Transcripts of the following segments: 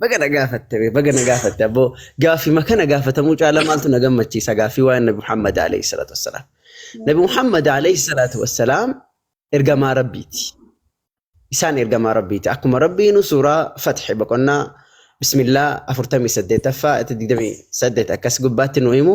Baga na gaafatte bee, baga na gaafatte abboo gaaffiima kana gaafatamuu caala maaltu na gammachiisa gaaffii waa'ee Nabi Muhammad alayhi salaatu wassalaam. Nabi Muhammad alayhi salaatu wassalaam ergamaa Rabbiiti. Isaan ergamaa Rabbiiti. Akkuma Rabbiinu suuraa Fatxi boqonnaa Bismillah 48ffaa 28 akkas gubbaatti nu himu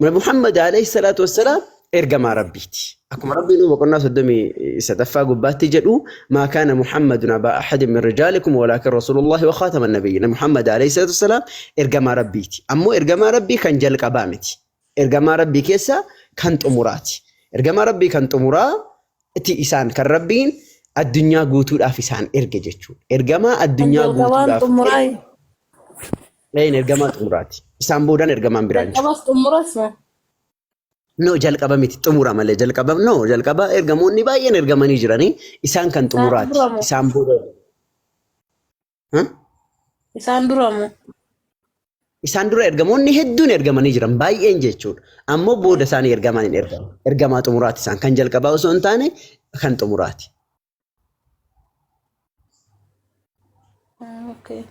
Nabi Muhammad alayhi salaatu wassalaam ergamaa Rabbiiti. Akkuma Rabbiin boqonnaa soddomii sadaffaa gubbaatti jedhu maa kaana Muhammadun abaa ahadin min rijaalikum walaakin rasuulullahi wa khaatama nabiyyiin. Nabi Muhammad alayhi salaatu wassalaam ergamaa Rabbiiti. Ammoo ergamaa Rabbii kan jalqabaa miti. Ergamaa Rabbii keessa kan xumuraati. Ergamaa Rabbii kan xumuraa ti isaan kan Rabbiin addunyaa guutuudhaaf isaan erge jechuudha. Ergamaa Kan addunyaa jalqabaan guutuudhaaf xumuraa Een ergamaa xumuraati. Isaan boodaan ergamaan biraa hin jiru. Jalqabas xumuras maa. No jalqaba miti xumura malee jalqaba no jalqaba ergamoonni baay'een ergamanii jiranii isaan kan Isaan xumuraati. dura moo? Isaan booda Huh? Isaan dura moo? isaan dura ergamoonni hedduun ergamanii jiran baay'een jechuudha. Ammoo booda isaanii ergamaan hin ergamu. Ergamaa xumuraati isaan kan jalqabaa osoo hin taane kan xumuraati. Okay.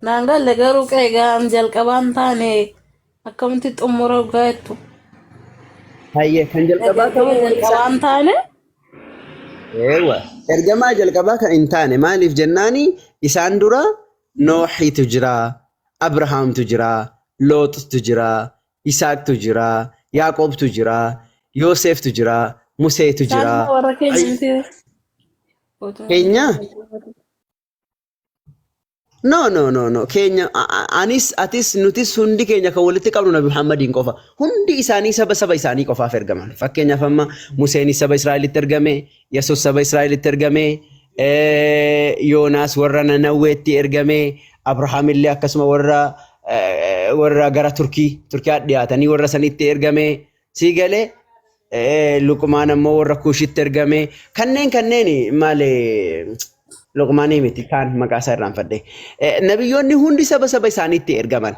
Naan galle garuu qe'ee ga'aan jalqabaan taane akkamitti xumura dhugaa jettu. Hayyee kan jalqabaa Ergamaa ta'uu isaa jalqabaan taane Eewa. Ergamaa jalqabaa kan hin taane maaliif jennaani isaan dura Nooxitu jira, Abrahaamtu jira, Looxtu jira, Yisaaqtu jira, Yaaqoobtu jira, Yooseeftu jira, Museetu jira. Saaluma warra keenya Ay- miti. Otoo Keenya? No, no, no, no. Keenya, a- a- anis, atis, nutis hundi keenya kan walitti qabnu Nabi Muhammadiin qofa. Hundi isaanii saba saba isaanii qofaaf ergaman. Fakkeenyaaf amma Museenis saba Israa'elitti ergame, Yesus saba Israa'elitti ergame, Yoonaas warra Nanawweetti ergame, Abrahaam illee akkasuma warra warra gara Turkii Turkiyaa dhiyaatanii warra sanitti ergame sii galee Luqmaan ammoo warra Kuushitti ergame kanneen kanneen maali Luqmaanii miti kaan maqaa isaa irraanfadhe nabiyyoonni hundi saba saba isaaniitti ergaman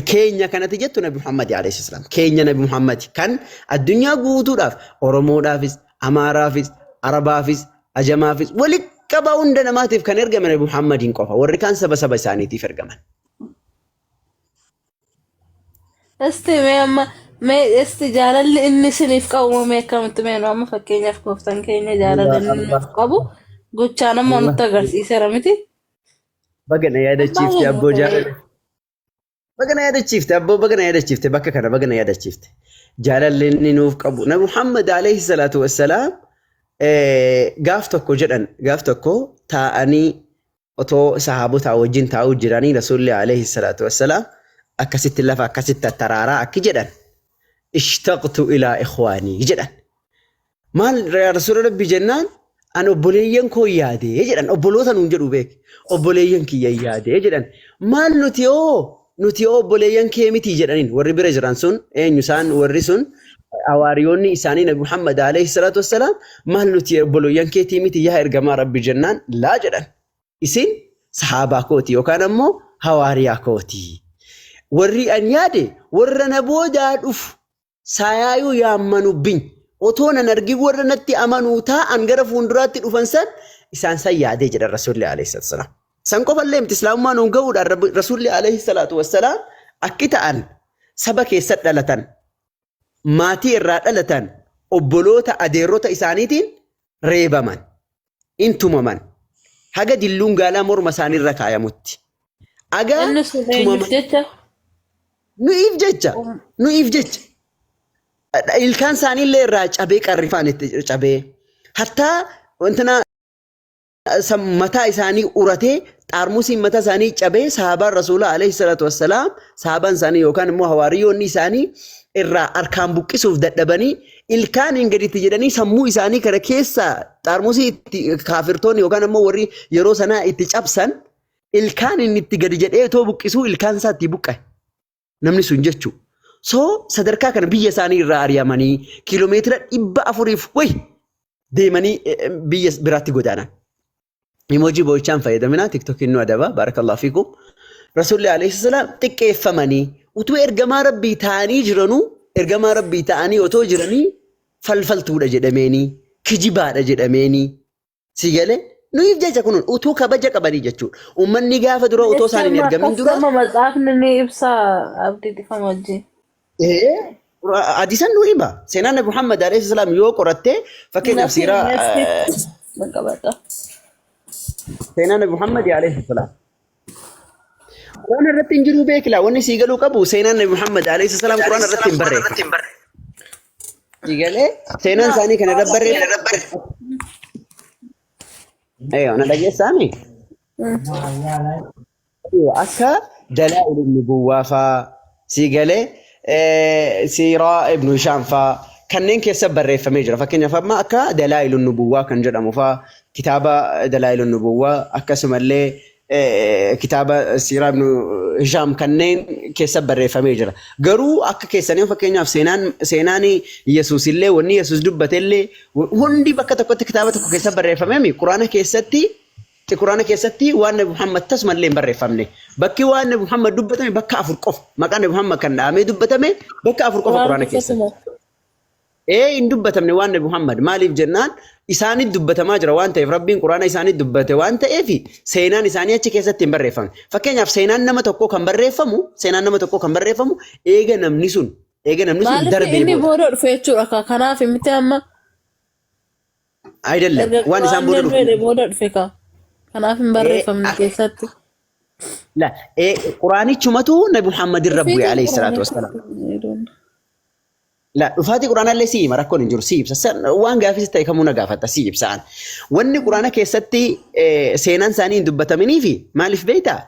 keenya kanati jettu Nabi Muhammad alayhi salaam keenya Nabi Muhammad kan addunyaa guutuudhaaf Oromoodhaafis Amaaraafis Arabaafis Ajamaafis walitti qabaa hunda namaatiif kan ergame Nabi Muhammadiin qofa warri kaan saba saba isaaniitiif ergaman. Isti mee amma mee isti jaalalli inni isiniif qabu moo mee akkamitti mee nu amma fakkeenyaaf gooftaan keenya jaalala inni nuuf qabu gochaan amma nutti agarsiiseera miti. Baga na Waan yaadachiifte baay'ee abboo namatti jaalala. tola. Baga na yaadachiifte abboo baga na yaadachiifte bakka kana baga na yaadachiifte. Jaalalli inni nuuf qabu. Nabi Muhammad alayhi salaatu wassalaam eh, gaaf tokko jedhan gaaf tokko taa'anii otoo sahaabotaa wajjin taa'uu jiranii rasuulli alayhi salaatu wassalaam akkasitti lafa akkasitti attaraaraa akki jedhan. Ishtaqtu ilaa ikhwaanii jedhan. Maal yaa rasuula rabbii jennaan an obboleeyyan koo yaade jedhan obboloota nuun jedhu beek obboleeyyan kiyya yaade jedhan maal nuti hoo nuti hoo obboleeyyan kee miti jedhaniin warri bira jiran sun eenyu isaan warri sun hawaariyoonni isaanii nabi Muhammad alayhi salaatu wassalaam maal nuti obboleeyyan keetii miti yaa ergamaa rabbi jennaan laa jedhan isin sahaabaa kooti yookaan ammoo hawaariyaa kooti warri an yaade warra na boodaa dhufu Saayaayuu yaammanu biny. Otoo nan argin warra natti amanuu taa'an gara fuunduraatti dhufan san isaan san yaadee jedhan Rasuulli alayhi salaatu wassalaam. San qofa illee miti islaamummaa nuun ga'uudhaan Rabbi- Rasuulli alayhi salaatu wassalaam akki ta'an saba keessa dhalatan maatii irraa dhalatan obboloota adeerrota isaaniitiin reebaman, in tumaman. Haga dilluun gaalaa morma isaanii irra kaayamutti. Agaa Inni sun eenyuuf tumaman. jecha? Nu'iif jecha. Um. Nu'iif jecha. Ilkaan isaanii illee irraa cabee qarrifaan itti cabee. Hattaa wantina san mataa isaanii uratee xaarmusiin mataa isaanii cabee sahaabaan rasuulaa alayhi salaatu wassalaam sahaabaan isaanii yookaan immoo hawaariyoonni isaanii irraa harkaan buqqisuuf dadhabanii ilkaaniin gaditti jedhanii sammuu isaanii kana keessa xaarmusii itti kaafirtoonni yookaan ammoo warri yeroo sanaa itti cabsan ilkaaniin itti gadi jedhee otoo buqqisuu ilkaan isaa itti buqqa'e. Namni sun jechuu. So sadarkaa kana biyya isaanii irraa ari'amanii kiiloomeetira dhibba afuriif wayi deemanii eh, eh, biyya biraatti godaanan. Imojii boo'ichaan fayyadaminaa tiktokiin nu adaba baarakallahu fiikum. Rasuulli alayhi salaam xiqqeeffamanii utuu ergamaa rabbii ta'anii jiranuu ergamaa rabbii ta'anii otoo jiranii falfaltuudha jedhameenii kijibaadha jedhameenii si galee nuyiif jecha kun utuu kabaja qabanii jechuudha. Uummanni gaafa dura otoo isaan hin Jecha ergamin dura akkasuma matsaafni ni ibsa abdii dhifama wajjin. Hadiisan nu hima. Seenaan Nabi Muhammad alayhi salaam yoo qoratte fakkeenyaaf siiraa seenaa Nabi Muhammad alayhi salaam. Quraan irratti hin jiru beekila wanni sii galuu qabu seenaan Nabi Muhammad alayhi salaam Quraan irratti hin barreeffamne. Sii galee seenaan isaanii kana irratti barreeffamne. Eeyyoo na dhageessaami. Aywa akka Dalaa'il ibn Buwwaa faa sii galee eh, Siiraa ibn Hishaam faa kanneen keessa barreeffamee jira. Fakkeenyaaf amma akka Dalaa'il ibn Buwwaa kan jedhamu faa kitaaba Dalaa'il ibn Buwwaa akkasumallee eh, kitaaba Siiraa ibn Hishaam kanneen keessa barreeffamee jira. Garuu akka keessanii fakkeenyaaf seenaan seenaan Yesuus illee wanni Yesuus dubbate illee hundi bakka tokkotti kitaaba tokko keessa barreeffamee mi? Quraana keessatti tti Qur'aana keessatti waan Nabi Muhammad tasuma illee hin barreeffamne. Bakki waan Nabi Muhammad dubbatame bakka afur qofa. Maqaan Nabi Muhammad kan dhahamee dubbatame bakka afur qofa Qur'aana Qur'aanni keessatti. tasuma. Ee hin dubbatamne waan Nabi Muhammad maaliif jennaan isaanitti dubbatamaa jira waan ta'eef Rabbiin Qur'aana isaanitti dubbate waan ta'eef seenaan isaanii achi keessatti hin barreeffamne. Fakkeenyaaf seenaan nama tokkoo kan barreeffamu seenaan nama tokkoo kan barreeffamu eega namni sun eega namni sun Maaliif darbee inni booda. booda dhufe jechuudha ka- kanaaf miti amma Ayidallam Erga waan isaan booda Qur'aanni dhufe. booda dhufe kaa. Kanaaf hin barreeffamne Eh, keessatti. La, eh, Quraanichumatu Nabi Muhammad irra bu'e alayhi salaatu wassalaam. La, dhufaatii Quraanaallee si hima rakkoon hin jiru si ibsa. San- Waan gaafis ta'e kamuu na gaafata si ibsaan. Wanni Quraana keessatti eh, seenaan isaanii hin dubbataminiifi maaliif beektaa?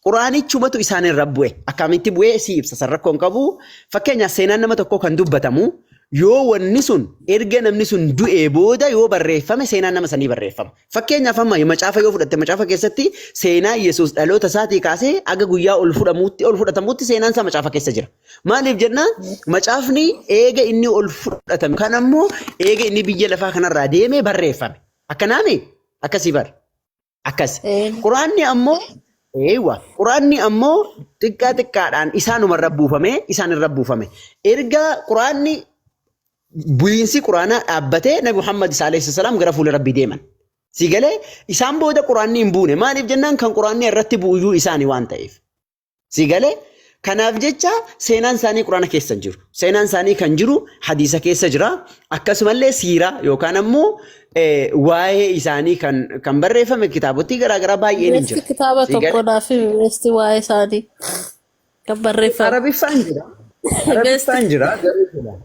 Quraanichumatu isaan irra bu'e. Akkamitti bu'ee si ibsa san rakkoo hin qabu. Fakkeenyaaf seenaan nama tokkoo kan dubbatamu yoo wanni sun erga namni sun du'ee booda yoo barreeffame seenaan nama sanii barreeffama. Fakkeenyaaf amma macaafa yoo fudhatte macaafa keessatti seenaa Yesuus dhaloota isaatii kaasee aga guyyaa ol fudhamuutti ol fudhatamuutti seenaan isaa macaafa keessa jira. Maaliif jenna macaafni eega inni ol fudhatame kan ammoo eega inni biyya lafaa kanarraa deemee barreeffame. Akkanaami akkasii bara. Akkas. Een. Quraanni ammoo eeywa quraanni ammoo xiqqaa xiqqaadhaan isaanuma irra buufame isaan irra buufame. Erga quraanni bu'iinsi quraanaa dhaabbatee Nabi Muhammad isaa alayhi salaam gara fuula rabbii deeman. Si galee isaan booda quraanni hin buune maaliif jennaan kan quraanni irratti bu'uyyuu isaani waan ta'eef. Si galee kanaaf jecha seenaan isaanii quraana keessa hin jiru. Seenaan isaanii kan jiru hadiisa keessa jira. Akkasumallee siiraa yookaan ammoo eh, waa'ee isaanii kan, kan barreeffame kitaabotii garaagaraa baay'een hin Beesti jira. kitaaba Si tokko galee naaf himi beesti waa'ee isaanii kan barreeffame. Arabiffaan jira. Beesti Arabiffaan jira garuu jira.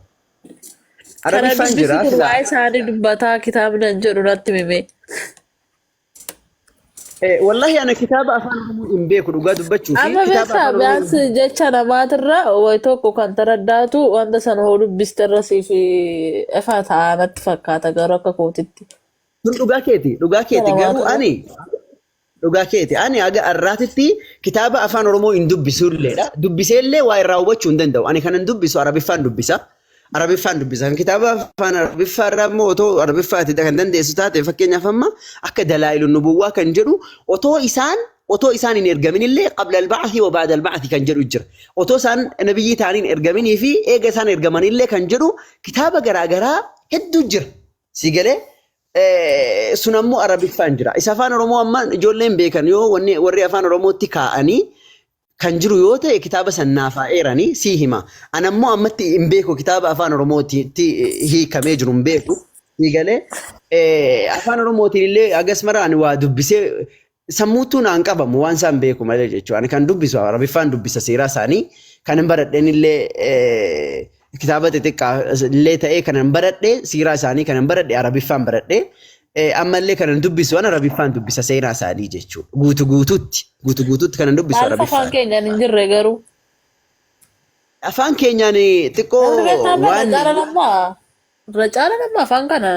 kana Arabiffaan dubbisi jira kun silaa waa'ee isaanii dubbataa kitaabni an jedhu natti himi. Eh, Wallahi ana kitaaba afaan Oromoo hin beeku dhugaa dubbachuu fi Amma kitaaba beektaa afaan Oromoo hin biyaansi jecha namaatirra wayi tokko kan taraddaatu wanta sana hoo dubbiste irra siif ifaa ta'a natti fakkaata garuu akka kootitti. kun dhugaa keeti dhugaa Jecha keeti garuu namaatirra. ani dhugaa keeti ani haga har'aatitti kitaaba afaan Oromoo hin dubbisuulleedha dubbiseellee waa irraa hubachuu hin danda'u ani kanan dubbisu arabiffaan dubbisa Arabiffaan dubbisan kitaaba afaan Arabiffaa irraa immoo otoo Arabiffaati kan dandeessu taate fakkeenyaaf amma akka dalaa'ilu nubuwwaa kan jedhu otoo isaan otoo isaan hin ergamin illee qabla alba'athi wa ba'da alba'athi kan jedhu jira. Otoo isaan nabiyyii ta'anii hin ergaminii fi eega isaan ergaman illee kan jedhu kitaaba garaa garaa hedduu jira. Si galee sun ammoo Arabiffaan jira. Isa afaan Oromoo amma ijoolleen beekan yoo wanni warri afaan Oromootti kaa'anii kan jiru yoo ta'e kitaaba san naaf haa eerani sii hima. Ana immoo ammatti hin beeku kitaaba afaan Oromootiitti hiikamee jiru hin beeku. Sii galee eh, afaan Oromootiin illee hagas mara ani waa dubbisee sammuuttuu naan qabamu waan isaan beeku malee jechuudha. Ani kan dubbisu Arabiffaan dubbisa seeraa isaanii kan hin baradheen illee eh, kitaaba xixiqqaa illee ta'ee kanan baradhe siiraa isaanii kanan baradhe arabiffaan baradhe ammallee kanan dubbisu an arabiffaan dubbisa seenaa isaanii jechuudha guutu guututti guutu guututti kanan dubbisu Maaliif afaan arabiffaan keenyaan hin jirre garuu? afaan keenyaan xiqqoo Dargaggeessaa bara waan caalan amma irra caalan amma afaan kana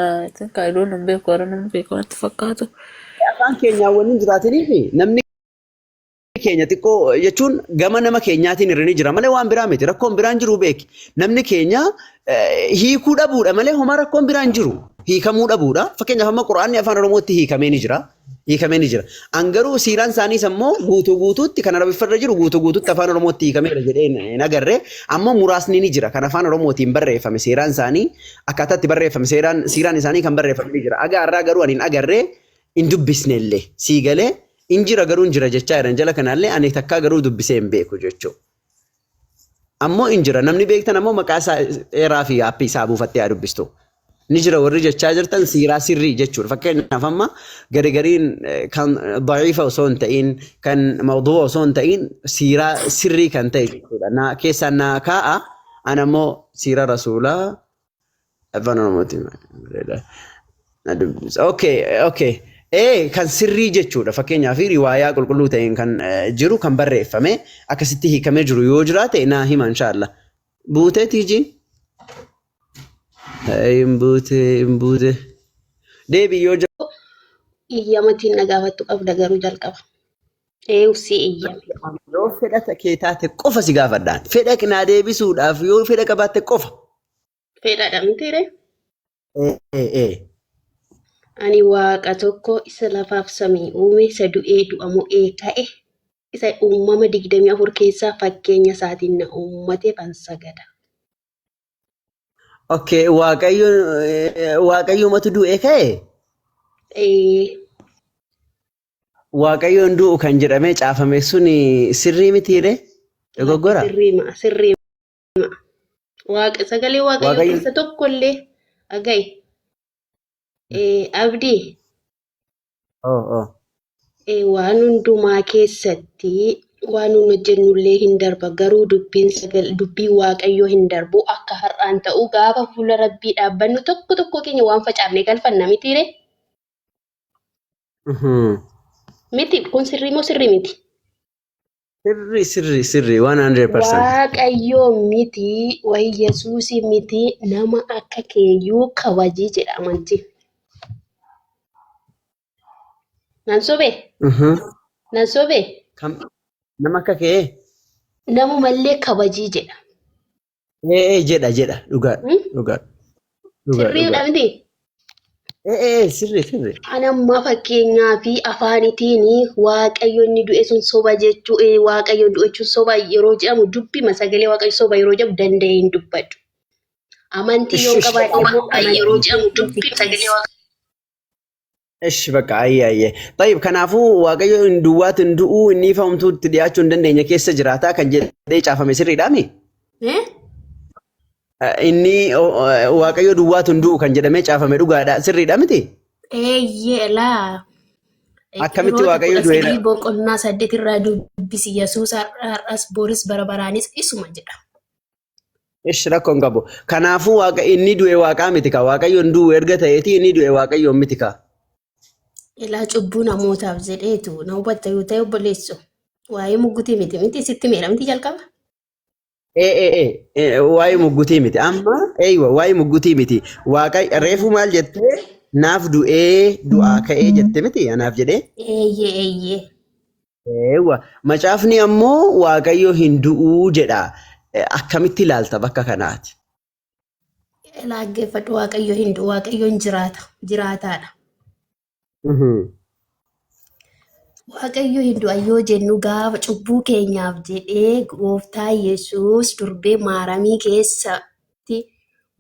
kaayidoon hin beeku warra nama beeku natti fakkaatu. afaan keenyaan waan hin jiraatiniif namni keenya xiqqoo jechuun gama nama keenyaatiin irra ni jira malee waan biraa miti rakkoon biraan jiru beeki namni keenya hiikuu dhabuudha malee homaa rakkoon biraan jiru hiikamuu dhabuudha fakkeenyaaf amma quraanni afaan oromootti hiikamee ni jira hiikamee ni jira an garuu siiraan isaaniis ammoo guutuu guutuutti kan arabiffarra jiru guutuu guutuutti afaan oromootti hiikameera jedhee hin agarre ammoo muraasni ni jira kan afaan oromootiin barreeffame seeraan isaanii akkaataatti barreeffame seeraan siiraan isaanii kan barreeffame ni jira agaa irraa garuu ani hin agarre hin dubbisne illee sii galee Hin jira garuu hin jira jechaa jiran jala kanaallee ani takkaa garuu dubbisee hin beeku jechuu. Ammoo hin jira namni beektan ammoo maqaa isaa eeraa fi aappii isaa buufattee haa dubbistu. Ni jira warri jechaa jirtan siiraa sirrii jechuudha. Fakkeenyaaf amma gari gariin eh, kan da'iifa osoo hin ta'iin kan mawduu'a osoo hin ta'iin siiraa sirrii kan ta'e jechuudha. Na, keessaan naa kaa'a an ammoo siira rasuulaa Afaan Oromooti bareeda. Na dubbisa. Okay, okay. Ee kan sirrii jechuudha fakkeenyaaf riwaayaa qulqulluu ta'een kan eh, jiru kan barreeffame akkasitti hiikamee jiru yoo jiraate naa hima inshaallah. Buutee tiijiin? Hin buute hin buute. Deebii yoo jira. iyyamatiin na gaafattu qabda garuu jalqaba. Eeyu si eeyyame. Yoo fedha ta- kee taate qofa si gaafadhaan. Fedha naa deebisuudhaaf yoo fedha qabaatte qofa. Fedhaadha mitiire. Ee, ee, ee. Ani waaqa tokko isa lafaaf samii uume, isa du'ee du'a mo'ee ka'e, isa uumama digdamii afur keessaa fakkeenya isaatiin na uummateef an sagada. Okay, waaqayyo eh, waaqayyoomatu du'ee ka'e. Ee, Waaqayyo hin du'u kan jedhamee caafame sun sirrii mitiiree? Lakki Dogoggora? sirrii ma'a sirrii ma'a. Waaqa sagalee waaqayyoo Waaqayyo keessa tokko illee dhaga'i. Eh, Abdii oo oo eh, waan hundumaa keessatti waan nun hojjennu illee hin darba garuu dubbiin sagal dubbii waaqayyoo hin darbu akka har'aan ta'u gaafa fuula rabbii dhaabbannu tokko tokko keenya waan facaafne galfanna mitiiree? Miti kun sirrii moo sirrii miti? Sirri sirri sirri 100%. Waaqayyoo miti wayi Yesuusii miti nama akka keeyyuu kabajii jedha amantiin. Nan sobee? Mhm. Nan sobee? Kam- Nama akka kee Namumallee kabajii jedha. Ee ee jedha jedha dhugaadha Hmm? dhugaadha dhugaadha Sirriidha dhugaadha. miti. Ee ee ee, sirri sirri. An ammaa fakkeenyaa fi afaanitiin waaqayyo inni du'e sun soba jechuu eh, waaqayyo du'e jechuun soba yeroo jedhamu dubbima sagalee waaqayyo soba yeroo jedhamu danda'ee hin dubbadhu. Amantii Ishi yoo ishi qabaadhe ammaa immoo kana yeroo jedhamu dubbima sagalee waaqayyo. Ish bakka ayyee ayyee. Tayyib kanaafuu waaqayyo hin duwwaatu hin du'uu inni ifa homtuutti dhiyaachuu hin dandeenye keessa jiraataa kan jedhee caafame sirriidhaami. Eh? Inni o- o- waaqayyo duwwaatu hin du'u kan jedhamee caafame dhugaadha sirriidha miti. Eeyyee laa. Akkamitti Ibroota waaqayyo kudha du'eera? sagal boqonnaa saddeet irraa dubbisi Yesuus har'as booris bara baraanis isuma jedha. Ish rakkoo hin qabu. Kanaafuu waaqa inni du'e waaqaa miti kaa waaqayyoon du'u erga ta'eeti inni du'e waaqayyoon miti kaa. Ilaa cubbuu namootaaf jedheetu na hubatta yoo ta'e obboleessu. Waa'ee muggutii miti miti sitti meera miti jalqaba. Ee ee ee ee, waa'ee muggutii miti amma eeywa waa'ee muggutii miti waaqa reefuu maal jettee naaf du'ee du'aa ka'ee jette miti anaaf jedhee. Eeyyee eeyyee. Eewwa. Macaafni ammoo Waaqayyo hin du'uu jedha. Eh, Akkamitti ilaalta bakka kanaati? Laaggeeffadhu Waaqayyo hin du'u Waaqayyo hin jiraata jiraataadha. Mhm. Waaqayyo hin du'a yoo jennu gaafa cubbuu keenyaaf jedhee gooftaa Yesuus durbee maaramii keessatti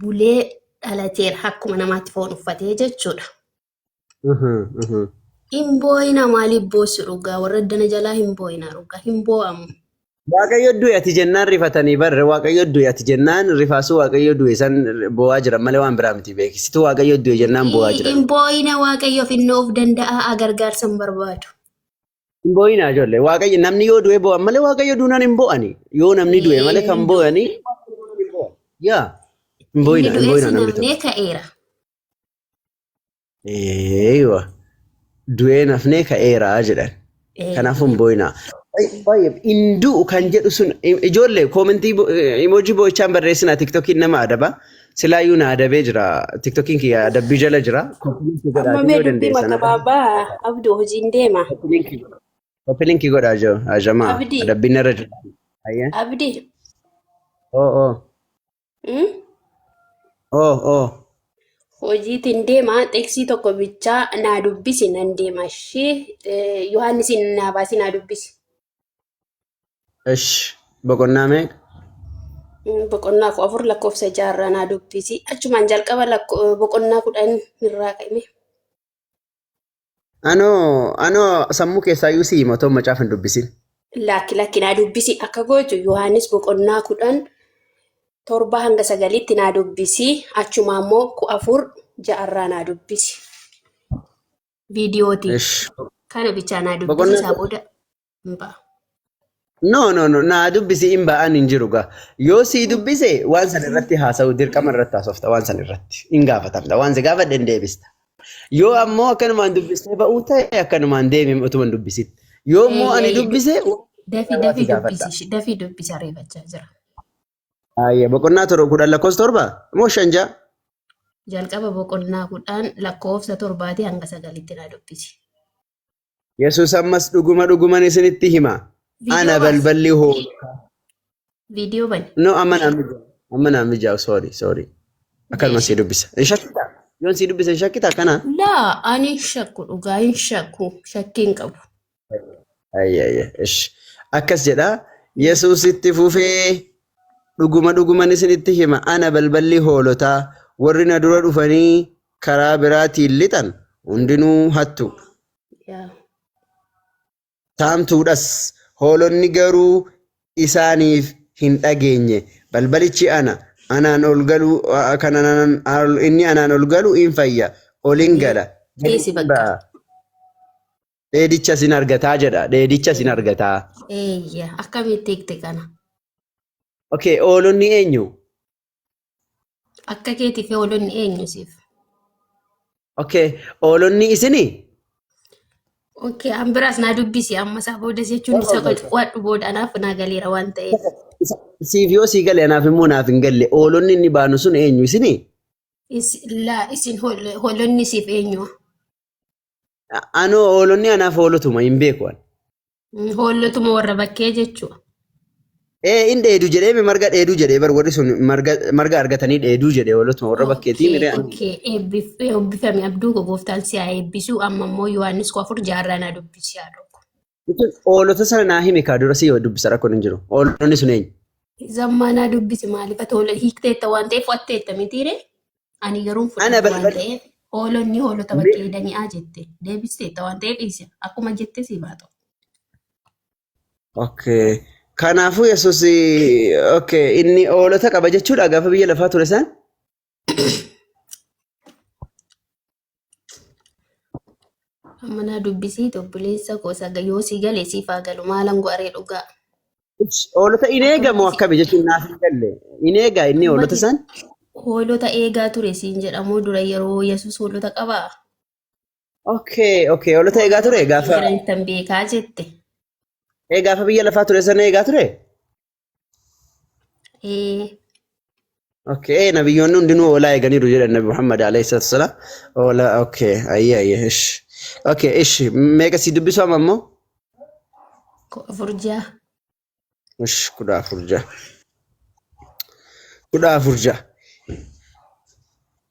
bulee dhalateera akkuma namaatti foon uffatee jechuudha. Hin boo'ina maaliif boossu dhugaa warra addana jalaa hin boo'ina dhugaa hin boo'amu. Waaqayyo du'e ati jennaan rifatanii barre waaqayyo du'e ati jennaan rifaasuu waaqayyo du'e san boo'aa jiran malee waan biraa miti beeki. Situ waaqayyo du'e jennaan boo'aa jiran. Hin boo'ina waaqayyoof inni of danda'a gargaarsa hin barbaadu. Hin boo'inaa ijoollee waaqayyo namni yoo du'e boo'an malee waaqayyo duunaan hin boo'ani. Yoo namni du'e malee kan boo'ani yaa hin Inni boo'inaa hin du'es boo'inaa namni tokko. namnee ka'eera. Eeywa. Du'ee nafnee ka'eeraa jedhan. Kanaafuu hin boo'inaa. Baay'ee hin du'u kan jedhu sun ijoollee koomentii imoojii boo'ichaan barreessinaa tiktokiin nama adaba. Silaayyuu na adabee jira. Tiktokiin kiyya adabbii jala jira. Amma mee dubbii mata baabaa abdu hojiin deema. Kopilinkii godhaa jiru. Ajamaa. Abdii. Adabbiin irra jira. Ayyee. Abdi Oo oo. Hmm? Oo oo. Hojiitiin deema xeksii tokko bichaa naa dubbisi nan deema ishee Yohaannisiin naa baasi naa dubbisi. Ish boqonnaa meeqa? Hmm, Boqonnaa kudha afur lakkoofsa ja'a irraa naa dubbisi. Achumaan jalqaba lakko- boqonnaa kudhan irraa ka'ime. Anoo anoo sammuu keessaa iyyuu si hima otoo macaafa hin dubbisin. Lakki lakki naa dubbisi akka gootu Yohaannis boqonnaa kudhan torba hanga sagaliitti naa dubbisi achumaa immoo ku afur ja'arraa naa dubbisi. Viidiyootiin Ish. kana bichaa naa dubbisi Boqonnaa isaa booda hin ba'a. No, no, no, naa dubbisi hin ba'an hin jiru gaa. Yoo sii dubbise waan san irratti haasa'u dirqama irratti haasofta waan san irratti hin gaafatamta waan si gaafadhe hin deebista. Yoo ammoo akkanumaan dubbistee ba'uu ta'e akkanumaan deemi utuma hin dubbisin. Yoo immoo ani dubbise Dafii waan dafii si gaafadha. dubbisi ishee dafii dubbisi ariifachaa jira. Ayya boqonnaa torba kudhan lakkoofsa torba moo shan ja'a? Jalqaba boqonnaa kudhan lakkoofsa torbaatii hanga sagalitti na dubbisi. Yesuus ammas dhuguma dhuguman isinitti hima. Ana Viidiyoo baasi. balballi hoolotaa. Viidiyoo bani. No, amma naa mijaa'u. Amma naa mijaa'u. Sorry, sorry. Akkanuma sii dubbisa. Hin shakkita. Yoon sii dubbisa hin shakkita kana. Laa ani hin shakku dhugaa hin shakku shakkii hin qabu. Ayya, ayya. Ish. Akkas jedha. Yesuus itti fufee dhuguma dhuguman isinitti hima. Ana balballi hoolotaa. Warri na dura dhufanii karaa biraatiin lixan hundinuu hattuu dha. Yaa. Saamtuudhas. Hoolonni garuu isaaniif hin dhageenye. Balbalichi ana, anaan ol galu, a- a- kan anaan, al- inni anaan ol galu in fayya, ol in gala, gad Dhiisi in bakka. ba'a. Dheedichas in argataa jedha. Dheedichas in argataa. Eeyya. Akkamitti hiikte kana? Okay, hoolonni eenyu? Akka keetiif hoolonni eenyu siif? Okay, oolonni isinii? Okay, an biraas naa dubbisi amma isaa booda jechuun isa qo'adhu booda anaaf naa galeera waan ta'eef. Isa- Siif yoo sii gale anaaf immoo naaf hin galle. Oolonni inni baanu sun eenyu isinii? Is- Laa isin hool- hoolonni siif eenyu? Anoo oolonni anaaf hoolotuma hin beeku ani. Mm, Hoolotuma warra bakkee jechuudha. Ee in dheedu jedhee mi marga dheeduu jedhee bar warri sun marga marga argatanii dheeduu jedhee hoolotuma warra bakkeetii Okay, miree ani. okay. Eebbif- Eebbifame abduu koo gooftaan si haa eebbisu. Amma immoo Yohaannis koo afur jaarraa naa dubbisi haa dhokku. Jechuun Hoolota sana naa himi kaa dura si dubbisa rakkoon hin jiru. Hoolonni sun eenyu? Zammaa naa dubbisi maaliif ati hoola hiikteetta waan ta'eef watteetta mitiire? Ani garuu Ana fudhadhu waan balbal ta'eef hoolonni hoolota mee bakkee dani'aa jette deebisteetta waan ta'eef dhiise akkuma jette siif haa ta'u. Okay. Kanaafuu Yesuus okay, inni hoolota qaba jechuudha gaafa biyya lafaa ture isaan. Amma naa dubbisii obboleessa koo isa yoo si gale siif haa galu maalan go'aree dhugaa. Hoolota in eega moo Akkamitti akkami jechuun naaf hin galle. In eega inni hoolota mati isaan? hoolota eegaa ture siin jedhamoo dura yeroo Yesuus hoolota qabaa? Okay, okay. Hoolota eegaa Hoolota ture wajjin gaafa jiran ittan beekaa jette. ee gaafa biyya lafaa ture sana eegaa ture? Ee, Okay, nabiyyoonni hundinuu hoolaa eeganiiru jedhan Nabi Muhammad alayhi salaatu wasalaam. Hoolaa, okay, ayyee ayyee, ish. Okay, ish, meeqa sii dubbisu amma immoo? ko- afur ja'a. Ish, kudha afur ja'a. Kudha afur ja'a.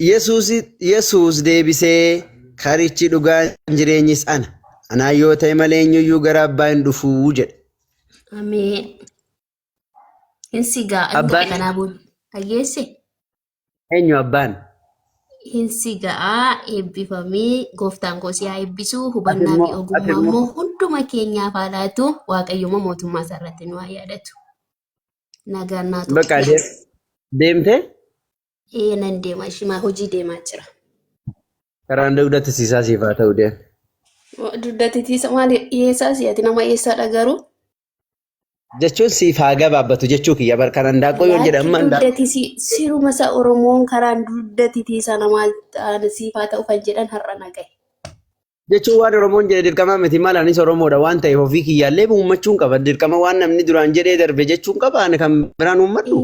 Yesuus Yesuus deebisee karichi dhugaan jireenyis ana. Anaa yoo ta'e malee eenyuyyuu gara abbaa hin dhufuu jedhe. Ameen. Hin sigaa hin Abbaan- tuqe kanaa booda. Dhaggeesse? Eenyu abbaan? Hin sigaa eebbifamee gooftaan koo si haa eebbisuu hubannaa fi immoo- ati ogummaa immoo- immoo hunduma keenyaaf haa laatu waaqayyuma mootummaa isaa irratti nu haa yaadatu. Nagaan naa tuqe. Bakka deem- deemtee? Ee nan deema ishimaa hojii deemaa jira. Karaan dugda tisiisaa siif haa ta'u deem. Dugda tisiisa maali dhiyeessaa si'ati nama eessaadha garuu Jechuun siif haa gabaabbatu jechuu kiyya bar kan handaaqqoo yoon jedhe amma handaaqqoo. dugda tisii siruma isaa Oromoon karaan dugda tisiisa namaa siif haa ta'u kan jedhan har'a na gahe. Jechuun waan Oromoon jedhe dirqamaa miti maal anis Oromoodha waan ta'eef ofii kiyyaallee uummachuun qaba dirqama waan namni duraan jedhee darbe jechuun qaba ani kan biraan uummadhu.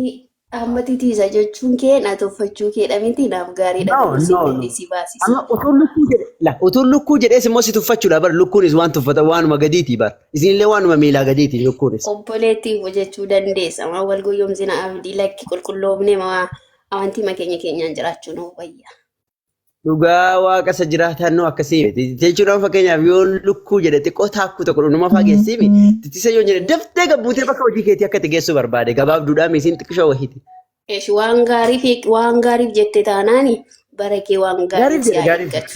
Dhaammati tiisa jechuun kee na tuffachuu kee dha miti naaf gaariidha No, garuu si no, no. gadhee si baasisa. Amma utuun lukkuu jedhe, la, utuun lukkuu jedhees immoo si tuffachuudha bar lukkuunis waan tuffatan waanuma gadiiti bar. Isinillee waanuma miilaa gadiiti lukkuunis. Obboleettiif hojjechuu dandeessa. Maa wal goyyomsina abdii lakki qulqulloofne maa amantii makeenya keenyaan jiraachuu nuuf wayya. Dhugaa waaqa isa jiraataan nuu akkasii miti. Jechuun amma fakkeenyaaf yoo lukkuu jedhe xiqqoo taakkuu tokko dhundhuma fa'aa geessee mi tittisa yoo jedhe daftee gabbuutee bakka hojii keetii akka itti geessuu barbaade gabaabduudhaan miisiin xiqqishoo wahiiti. Eesh, waan gaariif waan gaariif jette taanaani bara kee waan gaariin Gaariif si jedhe haa gaariif. eeggatu.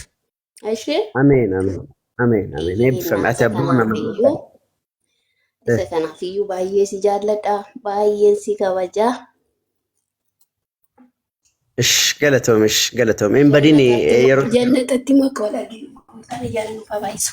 Ishee Ameen ameen ameen ameen eebbifame ati isa abbuma nama kanaafiyyuu isa kanaafiyyuu baay'ee si jaalladha baay'een si kabaja Ish galatoomi ish galatoomi hin badin yeroo Jannatatti makoo dhagee gooftaan ijaan nuuf haa baay'isu.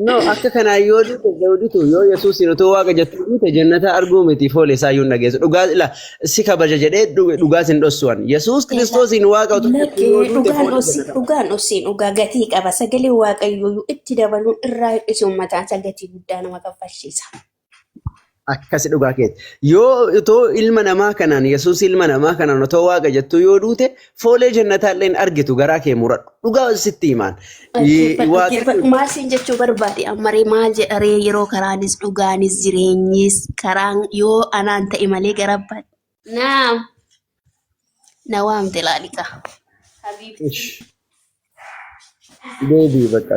no akka kanaa yoo duute zawuditu yoo yesuusin utuu waaqa jettu duute jannata arguu miti foole isaa iyyuu hin dhageessu dhugaa ila si kabaja jedhee dhu- dhugaa sin dhossuwan yesuus Egaa kiristoosiin waaqa utuu jettu lakkee yoo duute dhugaan foole dhossi jannata dhugaan dhossiin dhugaa gatii qaba sagalee waaqayyooyyuu itti dabaluun irraa hir'isuun mataan isaa gatii guddaa nama kaffalchiisa. Akkasi dhugaa keeti. Yoo otoo ilma namaa kanaan Yesuus ilma namaa kanaan otoo waaqa jettuu yoo duute foolee jannataa illee hin argitu garaa kee muradhu. Dhugaa sitti himaan. Dhaggeeffadhu, Waaqni dhaggeeffadhu. Maal siin jechuu barbaade? Ammaree maal jedha ree yeroo karaanis dhugaanis jireenyis karaan yoo anaan ta'e malee gara abbaa. Naam. Na waamte laalikaa. Habiibti. deebii bakka.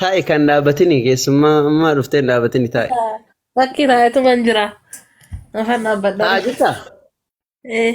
Taa'i kan dhaabatini keessummaa ammaa dhuftee hin dhaabatini taa'i. Bakki taa'etuman jira. Afaan dhaabbadha. Taa'a jirta? Eh,